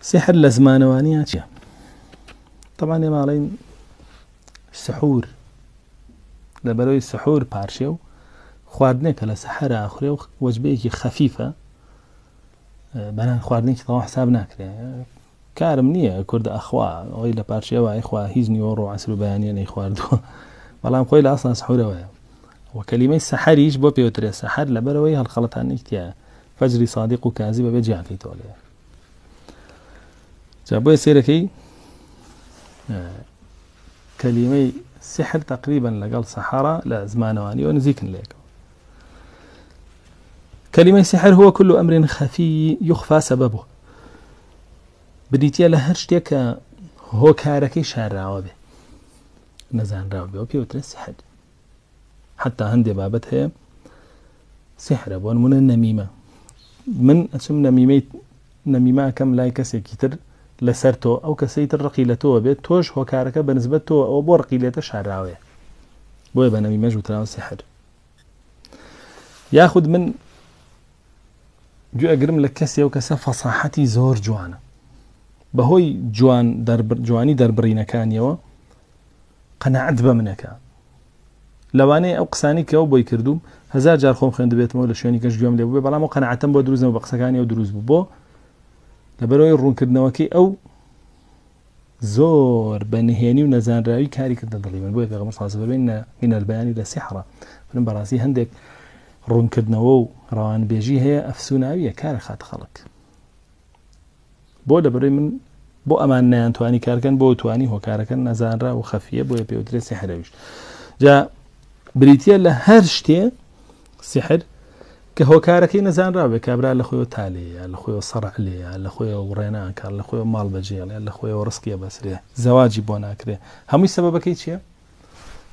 سحر لە زمانەوانیان چیە تەمان ێماڵین سحور لە بەرەوەی سحور پارشێ و خواردنێکە لە سەحرا ئەخورێ و وەجبەیەکی خەفیفە بەنان خواردنێکی تەوا حساب ناکرێ کارم نییە کورد ئەخوا ئەوی لە پارشێوە ئەیخوا هیچ نیوە ڕۆ عسر و بەیانە نەی خواردووە بەڵام خۆی لە ئاسان سحورەوەیە وەکەلیمەی سەحریش بۆ پێوترێ سەحر لە بەرەوەی هەڵخەڵەتانێکتیە فجری صادق و کازی بەبێ جیان کەیتەوە لێ جا بۆیە سێرەکەی کەلیمەی سحر تقریبا لەگەڵ سەحرا لە زمانەوانیەوە نزیکن لێکەوە کەلیمەی سحر هو كل أمر خفي يخفى سببه بریتە لە هەر شتێک کە هۆکارەکەی شاراوە بێ نەزانراوە بێ و پێوترە سحر حتا هەندێ بابەت هەیە سحرە بۆ نمونە نەمیمە من ئەچم نەمیمەی نەمیماکەم لای کەسێکی تر لەسەر تۆ ئەو کەسەی تر ڕقی لە تۆوە بێت تۆش هۆکارەکە بە نسبەت تۆ ئەو بۆ ڕقی لێتە شاراوەیە بۆیە بە نەمیمەش وتراوە سحر یاخود من گوێگرم لە کەسێ و کەسە فەساحەتی زۆر جوانە بەهۆی جوان جوانی دەربڕینەکانیەوە قەناعەت بە منە کە لەوانەیە ئەو قسانی کەەوە بۆی کردوم هزار جار خۆم خوێندبێتمەوە لە شوێنی گەشت گوێم لێ بێ بەڵام و قەنەعەتم بۆ دروزەوە بە قسەکانی و دروست بوو بۆ لەبەرەوەی ڕوونکردنەوەکەی ئەو زۆر بە نهێنی و نەزانراوی کاری کردە دڵی من بۆیە پێغمە سازبەرین نە مینەربیانی لە سیحڕە من بەڕاستی هەندێک ڕوونکردنەوە و ڕەوانبێژی هەیە ئەفسوناویە کارە خاتە خەڵک بۆ لەبەرەی من بۆ ئەمان نیان توانی کارکەن بۆ توانی هۆکارەکەن نەزانرا و خەفیە بۆیە پێوترێ سحرەویش جا بریتە لە هەر شتێ سحر کە هۆکارەکەی نەزانراوێ کابرا لە خۆی تالەیە لە خۆی سەڕ لێە لە خۆی وڕێناکار لە خۆی ماڵ بەجێڵێ لە خۆی ڕستکیە بەسرێ زەواجی بۆ ناکرێ هەمووی سەبەکەی چییە؟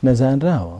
نەزانراوە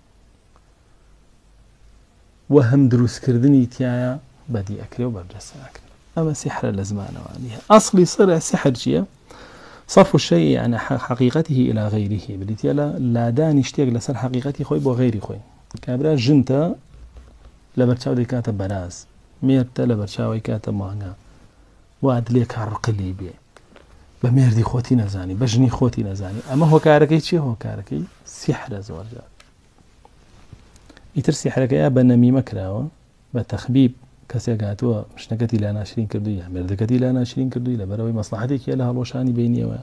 و هەم دروستکردنی تیایا بەدی ئەکرێ و بەرجەستە ئەکرێ ئەمە سحرە لە زمانەوانیە ئەسڵی سەر سحر چییە؟ صرف الشيء عن حقيقته إلى غيره بریتە لە لادانی شتێک لەسەر حقیقەتی خۆی بۆ غیری خۆی کابرا ژنتە لە بەرچاو دەکاتە بەراز مێرتە لە بەرچاوی کاتە مانگە وات لێ کا ڕقلی بێ بە مێردی خۆتی نەزانی بە ژنی خۆتی نەزانی ئەمە هۆکارەکەی چی هۆکارەکەی سیحرە زۆرجار ئیتر سیحرەکەی بە نەمیمە کراوە بە تەخبیب کەسێک هاتووە شتەکەتی لا ناشرین کردو یا مردەکەتی لا ناشرین کردووی لە بەرەوەی مەسلحاتێکی لە هەڵۆشانی بینیەوە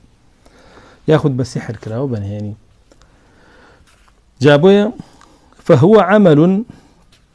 یاخود بە سیحر کراوە بەنهێنی جابۆیە فهوە عمل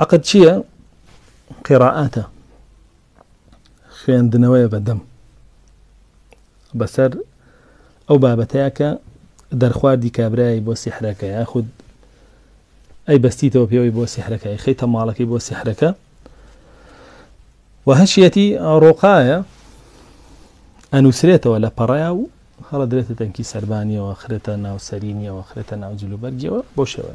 عقد چییە؟ قێڕائاتە خوێندنەوەیە بەدەم بەسەر ئەو بابەتەیە کە دەرخواردی کابرای بۆ سیحرەکە یاخود ئەی بەستیتەوە پێوەی بۆ سیحرەکە خەی تەماڵەکەی بۆ سیحرەکە و هەشیەتی ڕۆقاە ئەنووسرێتەوە لە پەڕەیە و هەڵە درێتە تەنکی سربانیەوە خرێتە ناوسەرینیەوە خرێتە ناو جلوبەرگەوە بۆ شێوە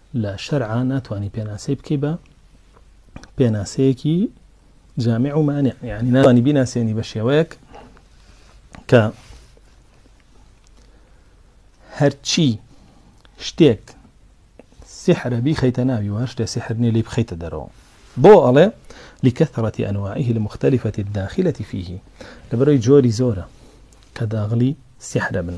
لە شەرعا ناتوانی پێناسەی بکەی بە پێناسەیەکی جامع و مانع یعنی ناتوانی بیناسێنی بە شێوەیەک کە هەرچی شتێک سحرە بیخەیتە ناوی وە شتێ سحرنی لی بخەیتە دەرەوە بۆ ئەڵێ لکەثرەتی ئەنواعه المختلفەتی داخلەتی فیه لەبەرەوەی جۆری زۆرە کە داغلی سحرە بن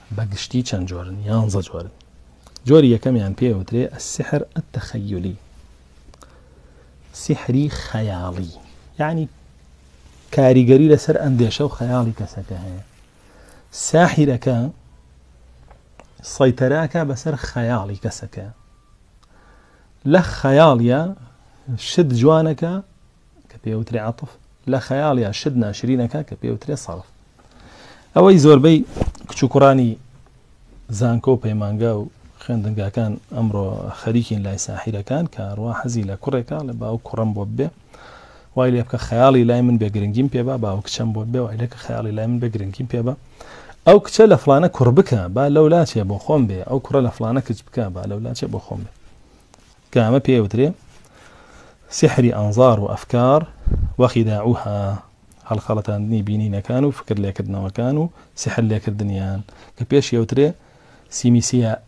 بە گشتی چەند جۆرن؟ یانزە جۆرن. جۆری یەکەمیان پێ ئەوترێ السحر التخیلی سحری خەیاڵی یعنی کاریگەری لەسەر ئەندێشە و خەیاڵی کەسەکە هەیە ساحیرەکە سەیتەراکە بەسەر خەیاڵی کەسەکە لە خەیاڵە شت جوانەکە کە پێ ئەوترێ عەطف، لە خەیاڵ یا شت ناشرینەکە کە پێ ئەوترێ صەرف. ئەوەی زۆربەی کچ و کوڕانی زانکۆ و پەیمانگا و خوێندنگاکان ئەمڕۆ خەریکین لای ساحیرەکان کە ئەڕوا حەزی لە کوڕێکە ئەڵێ با ئەو کوڕەم بۆ ببێ وای لێ بکە خەیاڵی لای من بێ گرنگیم پێ با با ئەو کچەم بۆ ببێ وای لێ کە خەیاڵی لای من بێ گرنگیم پێ با ئەو کچە لە فڵانە کوڕ بکە با لەولا چێ بۆ خۆم بێ ئەو کوڕە لە فڵانە کچ بکە با لەولا چێ بۆ خۆم بێ کە ئەمە پێی ئەوترێ سیحری ئەنزار و ئەفکار وخیداعوها، هەڵخەڵەتاندنی بینینەکان و فکر لێکردنەوەکان و سیحر لێکردنیان، کە پێشی ئەوترێ سیمیسیاء،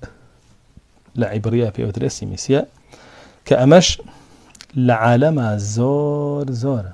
لە عیبڕییە پێی ئەوترێ سیمیسیاء، کە ئەمەش لە عالەما زۆر زۆرە.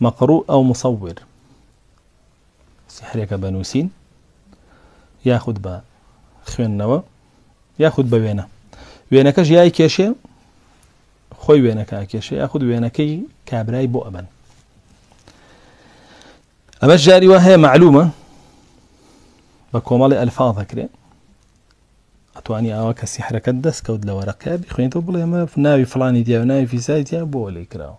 مقروء ئەو مصور سحرێکە بە نووسین یاخود بە خوێندنەوە یاخود بە وێنە وێنەکەش یای کێشێ خۆی وێنەکە کێشێ یاخود وێنەکەی کابرای بۆ ئەبەن ئەمە جاری وە هەیە معلومە بە کۆمەڵی ئەلفاظ دەکرێ ئەتوانی ئاوا کە سیحرەکەت دەستکەوت لە وەرەقە بخوێنیتەوە بڵێ ئەمە ناوی فلانی دیا و ناوی فیزای دیا بۆ لێ کراوە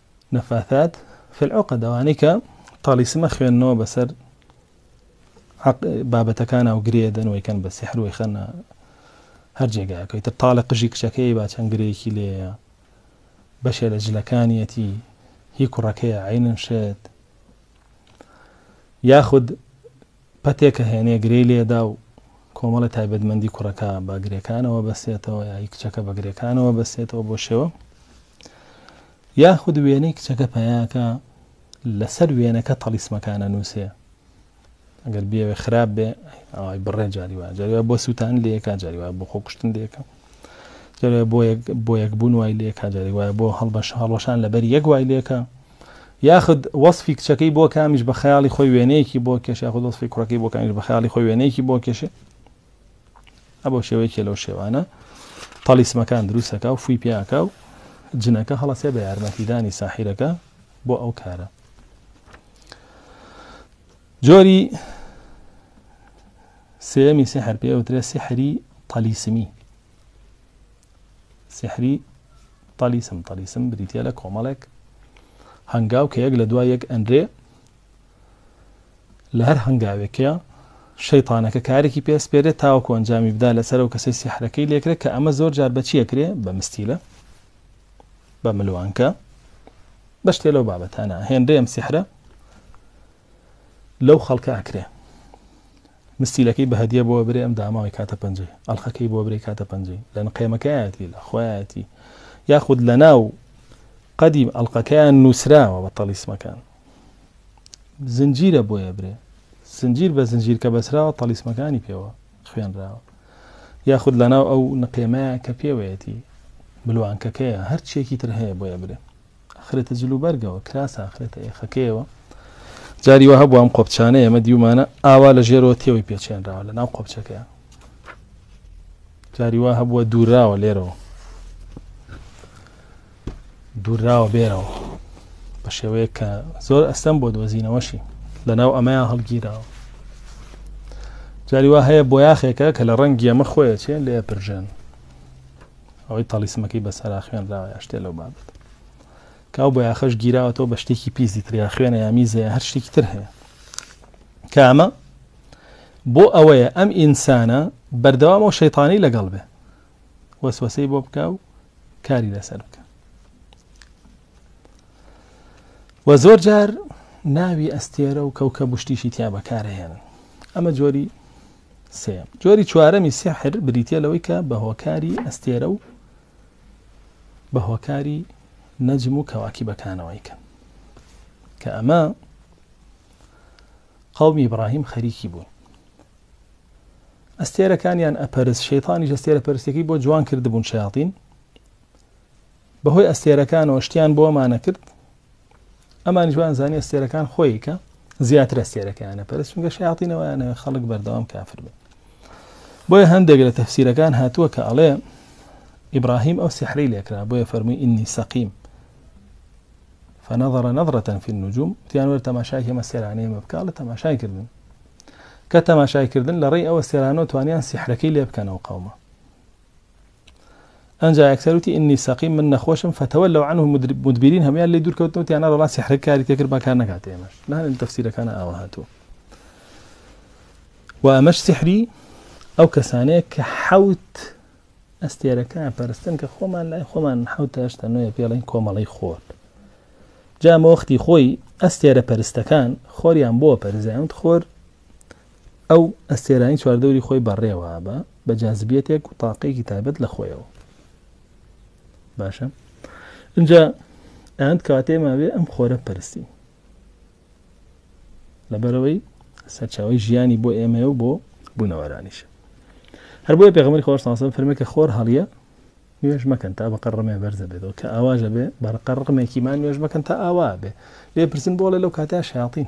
نفاثات فی العقد ئەوانەی کە تالیسم ئەخوێننەوە بەسەر بابەتەکانە و گرێ دەن وەی کەن بە سحر وەی خەنە هەر جێگایەکەی تر تاالە قژی کچەکەی با چەند گرێکی لێە بەشێ لە جلەکانیەتی هی کوڕەکەی عینن شێت یاخود پەتێکە هێنێ گرێی لێدا و کۆمەڵێ تایبەتمەندی کوڕەکە بە گرێکانەوە بەستێتەوە یا هی کچەکە بە گرێکانەوە بەستێتەوە بۆ شێوە یاخود وێنەی کچەکە پەیاکە لەسەر وێنەکە تەڵیسمەکانە نووسێ ئەگەر بێوێ خراپ بێ ئەوای بڕێ جاری وایە جاری وایە بۆ سووتان لەیەکا جاری وایە بۆ خۆکوشتن لەیەکە جاری بۆ یەک بوون وای لەیەکا جاری وایە بۆ هەڵبەش هەڵوەشان لەبەر یەک وای لەکە یاخود وەسفی کچەکەی بۆ کامیش بە خەیاڵی خۆی وێنەیەکی بۆ کێش یاخود وەسفی کوڕەکەی بۆ کامیش بە خەیاڵی خۆی وێنەیەکی بۆ کێشێ ئەبەو شێوەیەکێ لەو شێوانە تەلیسمەکان دروستەکە و فوی پیاکە و جنەکە هەڵەسێ بە یارمەتیدانی ساحیرەکە بۆ ئەو کارە جۆری سێمی سحر پێوترێ سحری تەلیسمی سیحری تەلیسم، تەلیسم بریتیە لە کۆمەڵێک هەنگاو کە یەک لە دوای یەک ئەنرێ لە هەر هەنگاوێکە شەیتانەکە کارێکی پێسپێرێت تاوەکو ئەنجامی بدا لەسەر و کەسەی سیحرەکەی لێکرێت کە ئەمە زۆر جار بەچیە کرێ بە مستیلە بە ملوانکە بەشتێ لەو بابەتانە هێنرێم سیحرە لەو خەڵکە ئەکرێ مستیلەکەی بە هەدیە بۆ برێ ئەم داماوی کاتە پەنجەی ئەڵخەکەی بۆ برێ کاتە پەنجەی لە نقێمەکەیەتی لە خۆیەتی یاخود لە ناو قەدیم ئەڵلقەکەیان نووسراوە بە تەلیسمەکان زنجیرە بۆیە برێ زنجیر بە زنجیر کە بەسراوە تەلیسمەکانی پێوە خوێنراوە یاخود لە ناو ئەو نقێمەیە کە پێوەیەتی ملوانکەکەیە هەرچێکی تر هەیە بۆیە برێ ئەخرێتە جلوبەرگەوە، کراسە ئەخرێتە ئێخەکەیەوە، جاری وا هەبوو ئەم قۆپچانەی ئێمە دیومانە ئاوا لە ژێرەوە تێوەی پێچێنراوە لە ناو قۆپچەکەیە، جاری وا هەبووە دووراوە لێرەوە دووراوە بێرەوە بە شێوەیە کە زۆر ئەستەم بۆ دۆزینەوەشی لە ناو ئەمەیان هەڵگیراوە جاری وا هەیە بۆ یاخێکە کە لە ڕەنگی ئەمە خۆیە چێن لێ پرژێن ئەوەی تەڵیسمەکەی بەسەرا خوێنراوە یا شتێ لەو بابەت کە ئەو بۆیاخەش گیراوەتەوە بە شتێکی پیسی تریا خوێنە یا میزەیە هەر شتێکی تر هەیە کامە بۆ ئەوەیە ئەم ئینسانە بەردەوام و شەیتانی لەگەڵ بێ وەسوەسەی بۆ بکە و کاری لەسەر بکە وە زۆر جار ناوی ئەستێرە و کەوکە بشتیشی تیا بەکارهێنن ئەمە جۆری سێیەم. جۆری چوارەمی سیحر بریتیە لەوەی کە بە هۆکاری ئەستێرە و بە هۆکاری نەجم و کەواکیبەکانەوەی کە کە ئەمە قەومی ئیبراهیم خەریکی بوون ئەستێرەکانیان ئەپەرس شەیتانی ئەستێرە پەرستەکەی بۆ جوان کردبوون شیاطین بەهۆی ئەستێرەکانەوە شتیان بۆمانە کرد ئەمانیش وان زانی ئەستێرەکان خۆی کە زیاتر ئەستێرەکەیانە پەرست چونگە شیاطینەوەیانەوە خەڵک بەردەوام کافر بن بۆیە هەندێک لە تەفسیرەکان هاتووە کە ئەڵێ ئیبراهیم ئەو سحری لێکرا بۆیە فەرمووی ئینی سەقیم فنظر نظرة في النجوم تیان وەر تەماشای هێمە سێرانەیە مە بکە لە تەماشای کردن کە تەماشای کردن لە ڕێی ئەوە سێرانەوە توانیان سیحرەکەی لێ بکەنەوە قەومە ئەنجا ئەکتەر وتی ئینی سەقیم من نەخۆشم فەتەوە لەو عنه مدبرین هەمویان لێ دوورکەوتن وتیان نەڕۆ ڵا سیحرەک کاری تێکرد با کار نەکاتێ ئێمەش نانێ لە تەفسیرەکانە ئاوا هاتووە و ئەمەش سیحری ئەو کەسانەیە کە حەوت ئەستێرەکان پەرستن کە خۆمان لای خۆمان حەوت هەشتا نوێ پێڵین کۆمەڵی خۆر جامە وەختی خۆی ئەستێرە پەرستەکان خۆریان بۆ پەرزیان خۆر ئەو ئەستێرانەی چواردەوری خۆی بەڕێوە بە بە جازبیەتێک و تاقێکی تایبەت لە خۆیەوە باشە اینجا ئەند کاتێ ماوێ ئەم خۆرە پرسی لەبەرەوەی سەرچاوی ژیانی بۆ ئێمە و بۆ بوونەوەرانیش هەر بۆیە پێغمەری خۆش ساسم فرمێک کە خۆر هەڵیە نوێژ مەکەن تا بە قەڕمێ بەرزە بێتەوە کە ئاواژە بێ بەرقەڕقمێکیمان نوێژ مەکەن تا ئاوا بێ لێ پرسن بۆڵێ لەو کاتە شیاطین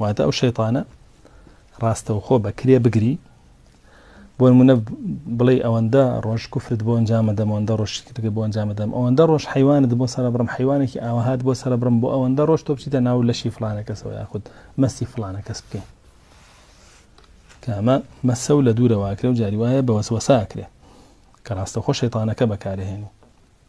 واتە ئەو شەیتانە ڕاستەوخۆ بە کرێ بگری بۆ نمونە بڵێ ئەوەندە ڕۆژ کوفرت بۆ ئەنجامە دەم ئەوەندە ڕۆژ شکرگە بۆ ئەنجامە دەم ئەوەندە ڕۆژ حیوانت بۆ سەرە بڕم حیوانێکی ئاوهات بۆ سەرە بڕم بۆ ئەوەندە ڕۆژ تۆ بچیتە ناو لەشی فلانە کەسەوە یاخود مەسی فلانە کەس بکەین کامە مەسە و لە دوورەواکرێ و جاری وایە بە وەسوەساکرێ کە ڕاستەخۆ شەیتانەکە بەکارهێنی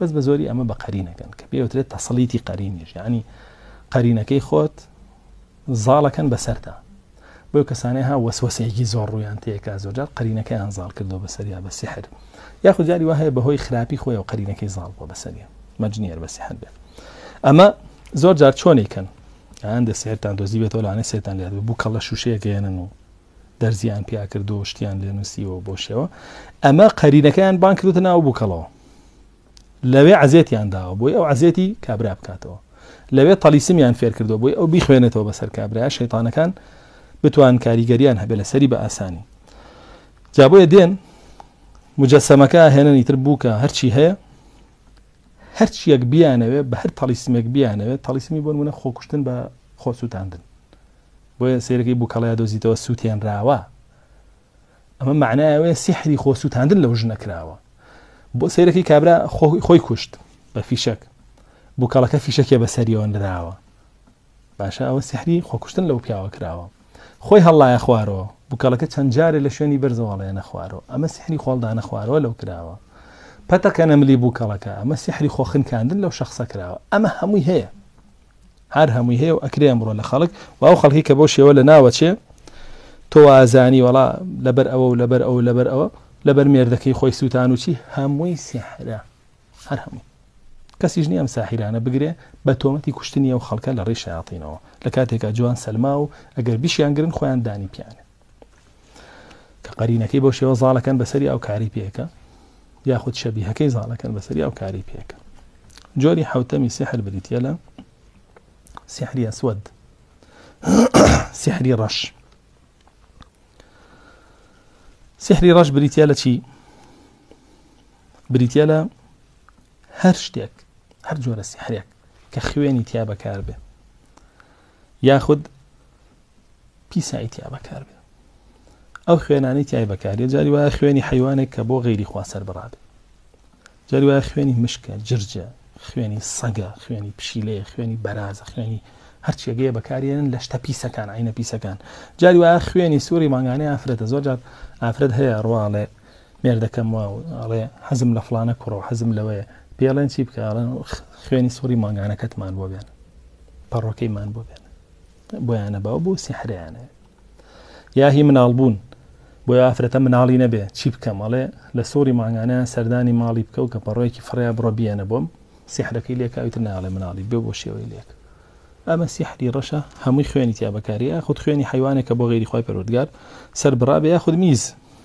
بەس بە زۆری ئەمە بە قەرینەکەن کە پێوترێت تەسەڵیتی قەرینیش یعنی قەرینەکەی خۆت زاڵەکەن بەسەردا بۆ کەسانێ ها وەسوەسەیەکی زۆر ڕویان تێکا زۆرجار قەرینەکەیان زاڵ کردو بەسەریا بە سحر یاخود جاری وهەیە بەهۆی خراپی خۆی و قەرینەکەی زاڵ بۆ بەسەریە مەجنیەر بە سحر بێت ئەمە زۆر جار چۆنێکن ئەیان دە سێرتان دۆزی بێتەوە لەانە سێتان لێت بوو کەڵە شوشەیەگەیەنن و دەرزیان پیا کردو شتیان لێ نووسیەوە بۆ شێوە ئەمە قەرینەکەیان بان کردوتە ناو بووکەڵەوە لەوێ عەزێتیان داوە بۆی ئەو عەزێتی کابرا بکاتەوە لەوێ تەلیسمیان فێرکردەوە بۆی ئەو بیخوێنێتەوە بەسەر کابرا شەیتانەکان بتوان کاریگەریان هەبێ لە سەری بە ئاسانی جابۆیە دێن مجەسەمەکە هێنەنی تر بووکە هەرچی هەیە هەرچیەک بیانەوێ بە هەر تەلیسمێک بیانەوێت تەلیسمی بۆن منە خۆکوشتن بە خۆسووتاندن بۆیە سێرەکەی بووکەڵەیە دۆزیتەوە سووتێنراوە ئەمە مەعنای ئەوەیە سیحری خۆ سووتاندن لەو ژنە کراوە بۆ سەیرەکەی کابرا خۆی کوشت بە فیشەک بووکەڵەکە فیشەکێ بەسەریەوە نراوە باشە ئەوە سیحری خۆکوشتن لەو پیاوە کراوە خۆی هەڵایە خوارەوە بووکەڵەکە چەند جارێ لە شوێنی بەرزەوەڵێ نەخوارەوە ئەمە سیحری خۆڵدا نەخوارەوە لەو کراوە پەتەکە نەملی بووکەڵەکە ئەمە سیحری خۆخنکاندن لەو شخصە کراوە ئەمە هەمووی هەیە هەر هەمووی هەیە و ئەکرێ ئەمڕۆ لە خەڵک و ئەو خەڵکی کە بەو شێوە لە ناوەچێ تۆ وازانی وەڵا لەبەر ئەوە و لەبەر ئەو لەبەر ئەوە لەبەر مێردەکەی خۆی سووتان و چی هەمووی سیحرە هەر هەمووی کەسیش نییە ئەم ساحیرانە بگرێ بە تۆمەتی کوشتنی ئەو خەڵکە لە ڕێی شیاطینەوە لە کاتێکا جوان سەلما و ئەگەر بیشیان گرن خۆیان دانی پیانە کە قەرینەکەی بۆ شێوە زاڵەکەن بەسەری ئەو کاری پێکە یاخود شەبیهەکەی زاڵەکەن بەسەری ئەو کاری پێکە جۆری حوتەمی سحر بریتە لە سحری ئەسود سحری ڕەش سحری ڕەش بریتە لە چی بریتە لە هەر شتێک هەر جۆرە سحرێک کە خوێنی تیا بەکار بێ یاخود پیسایی تیا بەکار بێ ئەو خوێنانی تای بەکارێ جاری وایە خوێنی حیوانێک کە بۆ غیری خوا سەر بڕابێ جاری وایە خوێنی مشکە جرجە خوێنی سەگە خوێنی پشیلەیە خوێنی بەرازە خوێنی هەرچێگەیە بەکارێنن لە شتە پیسەکان عینە پیسەکان جاری وایە خوێنی سووری مانگانەی ئافرەتە زۆر جار ئافرەت هەیە ڕواڵێ مێردەکەم وا ئەڵێ حەزم لە فڵانە کوڕە و حەزم لەوەیە، پێڵێن چی بکە ئەڵێن خوێنی سوڕی مانگانەکەتمان بۆ بێنە، پەڕۆکەیمان بۆ بێنە، بۆیانە باو بۆ سیحریانە یا هی مناڵ بوون بۆی ئافرەتە مناڵی نەبێ چی بکەم ئەڵێ لە سوڕی مانگانە سەردانی ماڵی بکە و کە پەڕۆیەکی فڕیا بڕە بیەنە بۆم سیحرەکەی لێکاویتر ناڵێ مناڵی بێ بۆ شێوەی لێک ئەمە سیحری ڕەشە هەمووی خوێنی تیا بەکاری یاخود خوێنی حیوانێکە بۆ غیری خی پەرۆردگار سەر بڕابێ یاخود میز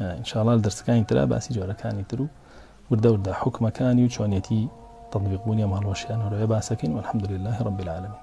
ان شاء اللە لە دەرسەکانی ترا باسی جۆرەکانی تر و وردە وردە حوکمەکانی و چۆنیەتی تطبیق بوونی ئەم هەڵوەشیانەرۆیە باسەکەین والحمد للە رب العالمین